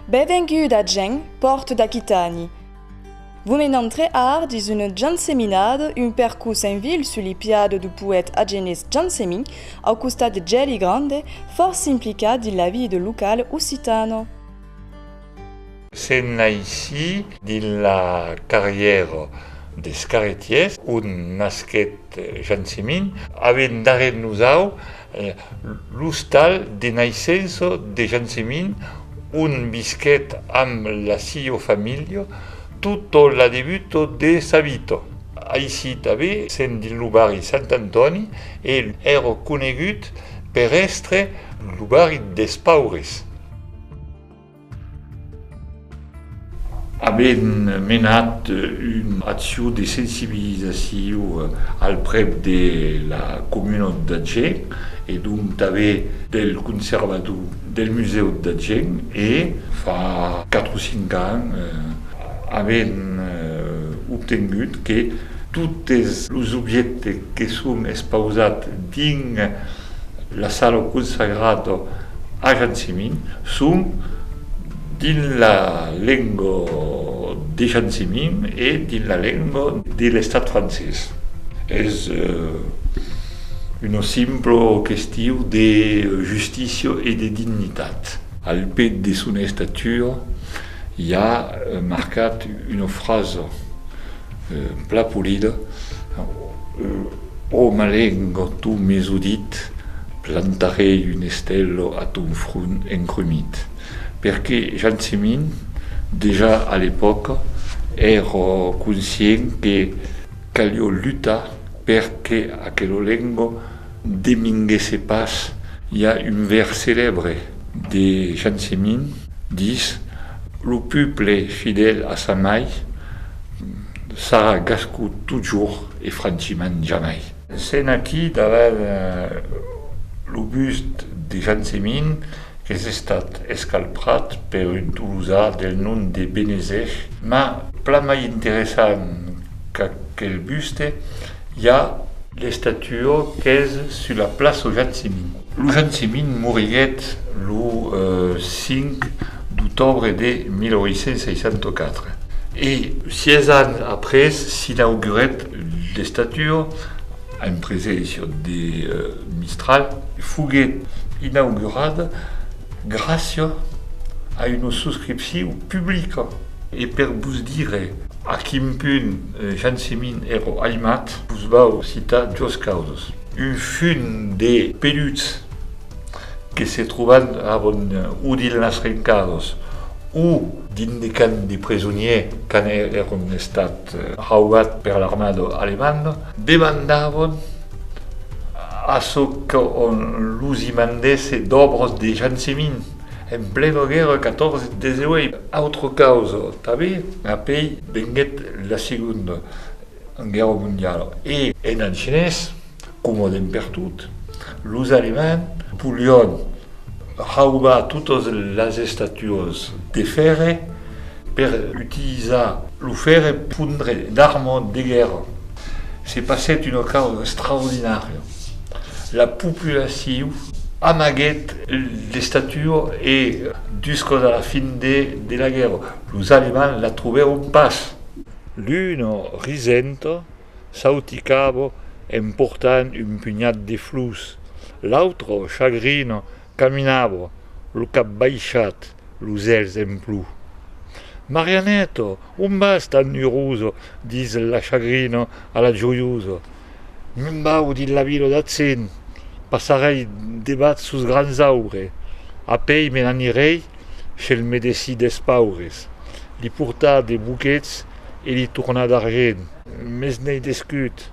Benvenguda gent pòrt d'Aquitani! Vos me n'entrè ar dins un janseminado, un percus en vil sul li piado du poèt agenés Jansemí, au costat de Gèli Grande, fòrça implicat dins la vie de local occitano. Se naissi dins la carrièra des Carretiers, ont nasquèt Jean Semin, avent darrèr nosau l'ostal de naissença de Jean Semin, ont visquèt amb la siua familha tota la debuta de sa vita. Aicí tanben, sent dins lo barri Sant Antòni, el èra conegut per èstre lo barri des paures. Avèm menat una accion de sensibilizacion al prèp de la comunautat d'Agen e donc tanben del conservador del musèu d'Agen e fa 4 o 5 ans avèm obtengut que totes los objèctes que son expausats dins la sala o consagrat o ajanciment son dins la lenga de janciment e dins la lenga de l'estat francés. Es una simpla question de justícia e de dignitat. Al pè de son estatura i a marcat una frasa. Un plat polida, O malengo, tu m'es udit, plantarei un estèlo a ton front encrumit. Perqué Jansemin, dejà a l'epòca, èra conscient que calió lutar per que aquelo lengo De minguèsse pas, i a un vèrs celèbre de Jean Semin, dis, Lo peuple fidèl a sa mai sarà gascon totjorn e franchiment jamai. Sèn aquí davant lo bust de Jean Semin qu'es estat escalprat per un tolosà del nom de Benezèch, mas plan mai interessant qu'aquel buste I a l'estatuo qu'es sus la plaço Jacimint. Lo Jacimint moriguèt lo 5 d'octobre de 1864 e sièis ans après s'inaugurèt l'estatuo en preséncia de Mistral. Foguèt inaugurada gràcia a una suscripciu publica. E per vos dire a quin punt Jansemin ero aimat, vos vau citar dos causes. Un fum de peluts que se troban avon o dins las rencados o dins de camps de presoniers quand èron estats raubats per l'armada alemanda, demandavon a çò qu'on los i mandèsse d'òbras de jansemin en plena guèrra 14-18. Autra causa tanben, apèi Venguèt la Segonda Guèrra Mondiala e. Èran chinés, comòden pertot, los alemands volián raubar totas las estatuas de fèrre per utilizar lo fèrre per fondre d'arma de guèrra. Se passèt una causa extraordinària, la populacion amaguèt l'estatua e juscas a la fin de la guèrra, Los alemands la trobèron pas! Luno Risento sauticavo en portant un punhat de flors, l'autre Chagrino caminavo, lo cap baishat, los èlhs en plu. Marianeto, on vas tan uroso? dis la Chagrino a la Joioso. Lo mau dins la vila d'Atzin passarèi debat sos grands aure, a pei me n'anirèi she'l medessi des paures, li portar de boquets e li tornar d'argent. Mes n'ei descut.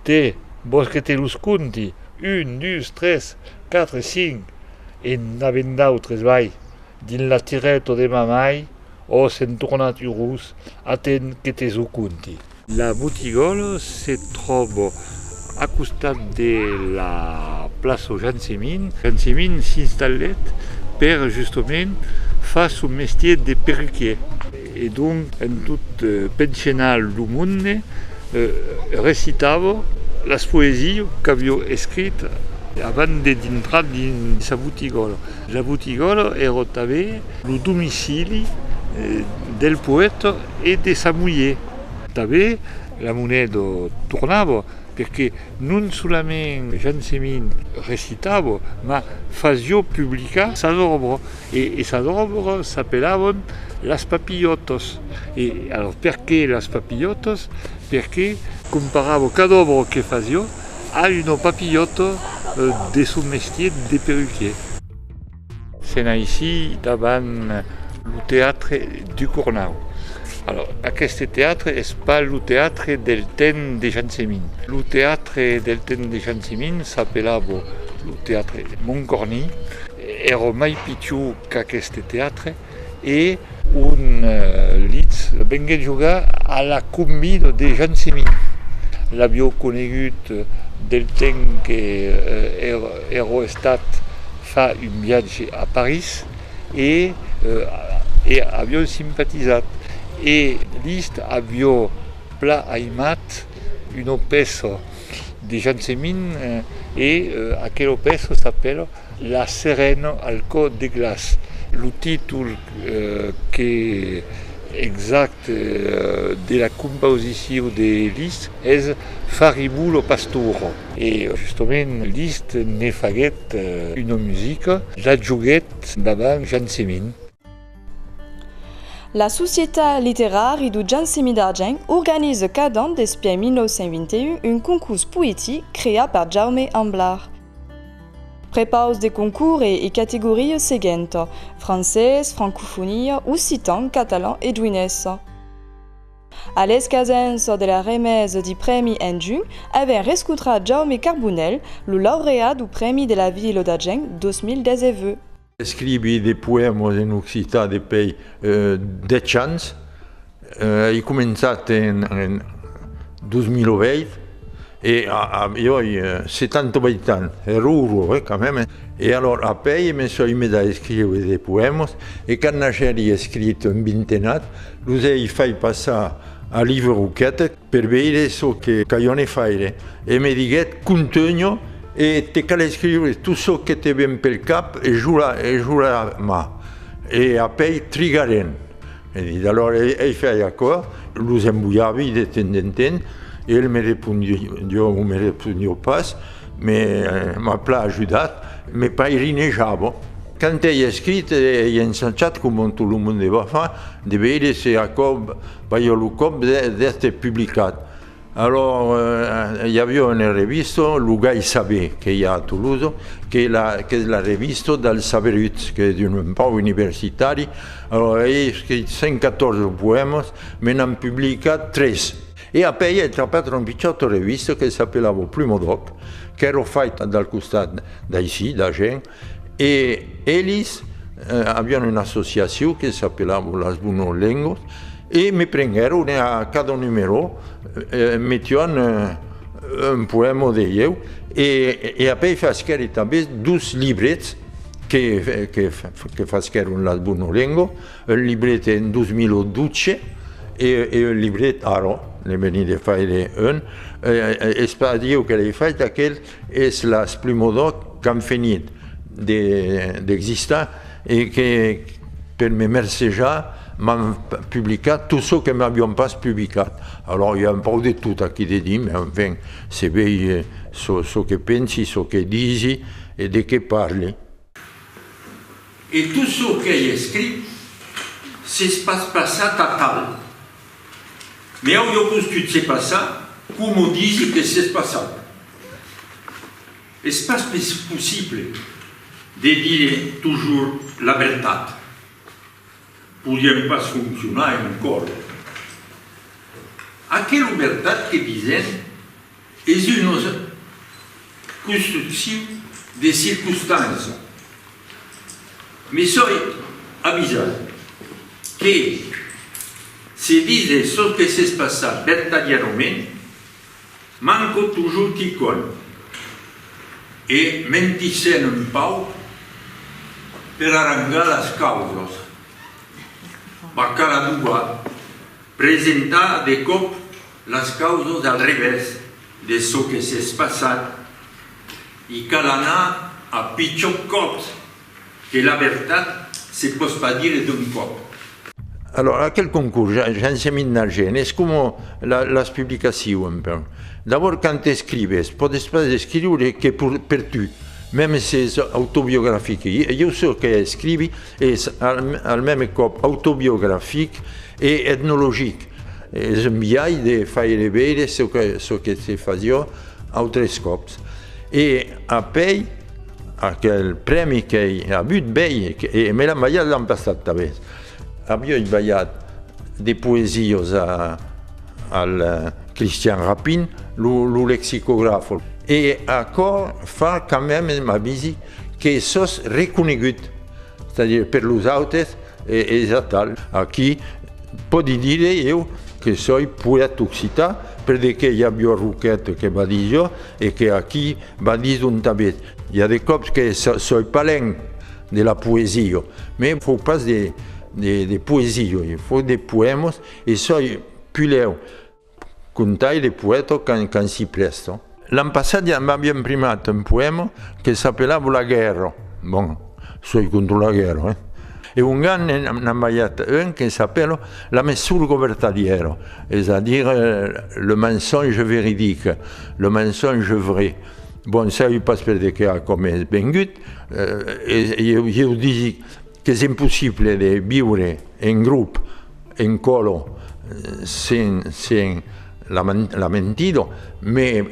Te, vòs que te los conti? Un, dus, tres, quatre, cinc, e n'avèn d'autres, vai, dins la tirèto de ma mai, ò s'en tornat urós, aten que te ço conti. La botigòla se tròba a costat de la plaça Jean Semin. Jean Semin s'installèt per justement far son mestier de perruquier. E donc en tot penchenar lo monde recitava las poesias qu'aviá escrich avant de dintrar dins sa botigòla. La botigòla èra tanben lo domicili del poèta e de sa mulher. Tanben la moneda tornava perque non solament Jansemin recitava, mas fasió publicar sas òbras e sas òbras s'apelavan Las Papilhòtas e alos perque Las Papilhòtas? Perque comparava cada òbra que fasió A uno papillòto de son mestier de perruquier. Sèn aicí davant lo teatre du Cornau. Alòrs, aqueste teatre es pas lo teatre del temps de Jansemin. Lo teatre del temps de Jansemin s'apelava lo teatre Moncorny. Èra mai pichon qu'aqueste teatre. e un litz venguèt jogar a la combi de Jean Simi l'avió conegut del temps que ero estat fa un viatge a París e e avion simpatizat e list avió pla aimat un opèsso. de Jansemin e aquelo pèço s'apèla La serena al cò de glaç. Lo títol exacte de la compausicion de Liszt es Faribu lo pastoro. E justament Liszt ne faguèt una musica, la joguèt davant Jansemin. La Societat Literari du Jansemi d'Argent organize cada an despièi 1921 un concurs poetic creat per Jaume Amblard. Prepaus de concours e categoria seguenta, francés, francofonia, occitan, catalan e juinés. A l'escasença de la remesa di prèmi en junh, avèm rescotrat Jaume Carbonell, lo laureat du Prèmi de la Vila d'Argent 2019. Escrivi de poèmas en occitan depei dètz ans. Ei començat en 2008 e jo ei 78 ans, hè ruro, hè, quand même. E alòr apèi me soi mes a escriure de poèmas e quand n'agèri escrit un vintenat, los ei fai passar a Live Roquette. Per veire çò que calhone faire. E me diguèt, Contunha e te cal escriure tot çò que te ven pel cap e jura, e jura mas e apèi trigarem, me dit. Alòra ei fai aquò, los embolhavi de temps en temps e el me repondió o me repondió pas, me m'a plan ajudat, me pairinejava. Quand ei escrit, ei ensachat, coma tot lo monde va far, de veire se aquò Balhò lo còp d'èster publicat. Alòrs i aviá una revista, Lo Gai Saber, que i a a Toulouse, qu'es la revista dels saberuts, que es un pauc universitari, alòrs ei escrit 114 poèmas, me n'an publicat 3. E après i ai trapat una pichòta revista que s'apelava Plumo d'Òc, qu'èra faita del costat d'aicí, d'Agen, E elis avián una associacion que s'apelava Las Bunos Lengos e me prenguèron e a cada numerò metián un poèma de ieu e apèi fasquèri tanben dos librets que fasquèron Las Bunos Lengos, un libret en 2012 e un libret ara, ne veni de faire un, es pas ieu que l'ai fait aquel, Es las Plumodòc qu'an fenit d'existar e que, per me mercejar, m'an publicat tot çò que m'avion pas publicat. Alòr, i a un pauc de tot aquí de dir, mai enfin, se vei çò que pensi, çò que disi e de qué parli. E tot çò qu'ai escrit s'es pas passat atal. Me au dopus tu t'se passa como disi que s'es passau. Es pas possible de dire tojur la vertat. Podiem pas foncionar en un còr. Aquelo vertat que disèm Es un ós constructiu de circonstància, me soi avisat que se dise çò que s'es passat vertadièrament, manco totjorn quicòm, e mentissèm un pauc per arranjar las causas. Bacaladouba presenta de còp Las causas al revèrs de çò que s'es passat, i cal anar a pichon còp que la vertat se pòs pas dire d'un còp. Alòs, aquel concors, j'en se mit na gène, es coma las publicaciu un peu. D'abòrd quand escrives, pòdes pas escriure que per tu, mèmes s'es autobiografic. Ieu çò que escrivi, Es al mème còp autobiografic e etnologic. Es un biais de faire veire çò que se fasiá autres còps. E apèi aquel prèmi qu'ei avut bèi, e me l'an balhat l'an passat tanben. Avioi balhat de poesiós al Christian Rapin, lo lexicograf. E aquò fa quand mème m'avisi que sòs reconegut. Tànher per los autes es atal. Aquí, pòdi dire eu que soi poèta occitan perdeque i a Biò Roquet que va dir jo e que aquí va dir Don Tabet. I a de còps que soi palèn de la poesia, me fò pas de poesia, fò de poèmas e soi pulèu. Contai le poèto quand s'i prèsto. L'an passat ja m'aviam primat un poèma que s'apelava La guèrra, bon, soi contra la guèrra, eh? E ongan n'an balhat un que s'apèla La messura govertalièra, es a dire le mensonge véridique, le mensonge vrai. Bon, sai pas per de qué a còm es vengut, e ieu disic, Qu'es impossible de viure en grop, en colo, sen la mentido, me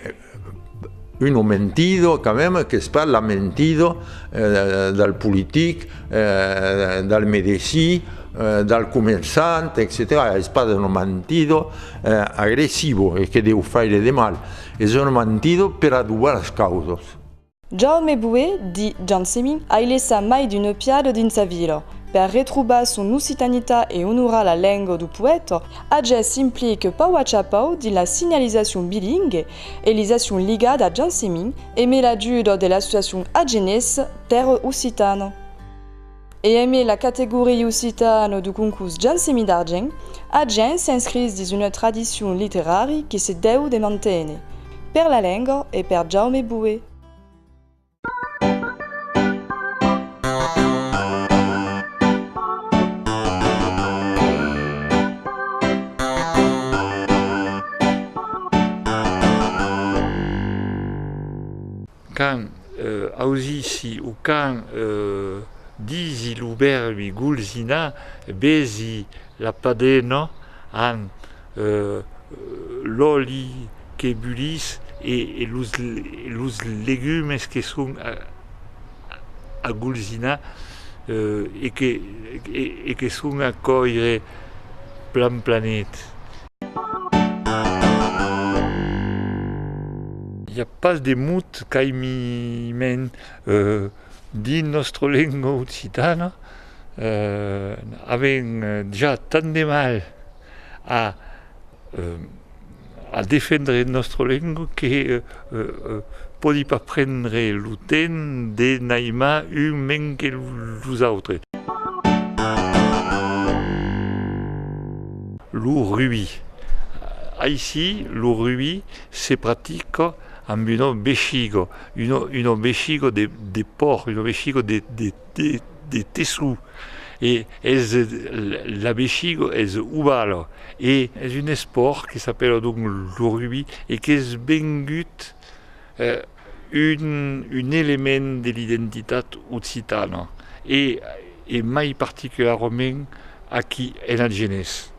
uno mentido quand même qu'es pas la mentido del politic, del medecin, del comerçant, etcetèra. Es pas una mentido agressivo e que deu faire de mal, es una mentido per adobar las causas. Jaume Boué, di Jansemí, ai laissat mai d'un opiado dins sa vila. Per retroubar son occitanita e onorar la lenga du poèta, Ages s'implique pau a chapau dins la signalizacion bilingue e lisacion ligada a Jansemí e me l'ajuda de l'associacion agenesa Terra Occitana. E aimé la categoria occitana du concurs Jansemi d'argent, Agen s'inscriss dins una tradicion literari que se deu de manténer, per la lenga e per Jaume Boué. Quand ausissi o quand disi lo vèrbi golsinar, besi la padena amb l'òli que bulís e los legumes que son a golsinar e que son a còire plan planet. I a pas de mot qu'aimiments dins nòstra lenga occitana. Avèm ja tant de mal a defendre nòstra lenga que Pòdi pas prendre lo temps de n'aimar un mens que los autres. Lo rugbi. Aicí, lo rugbi se practica amb una vechiga, una vechiga de pòrc, una vechiga de de tessó e es l'abechigo es ovala e es un espòrt que s'apèla donc lo rugbi e qu'es vengut un element de l'identitat occitana e mai particularament aquí en Agenés.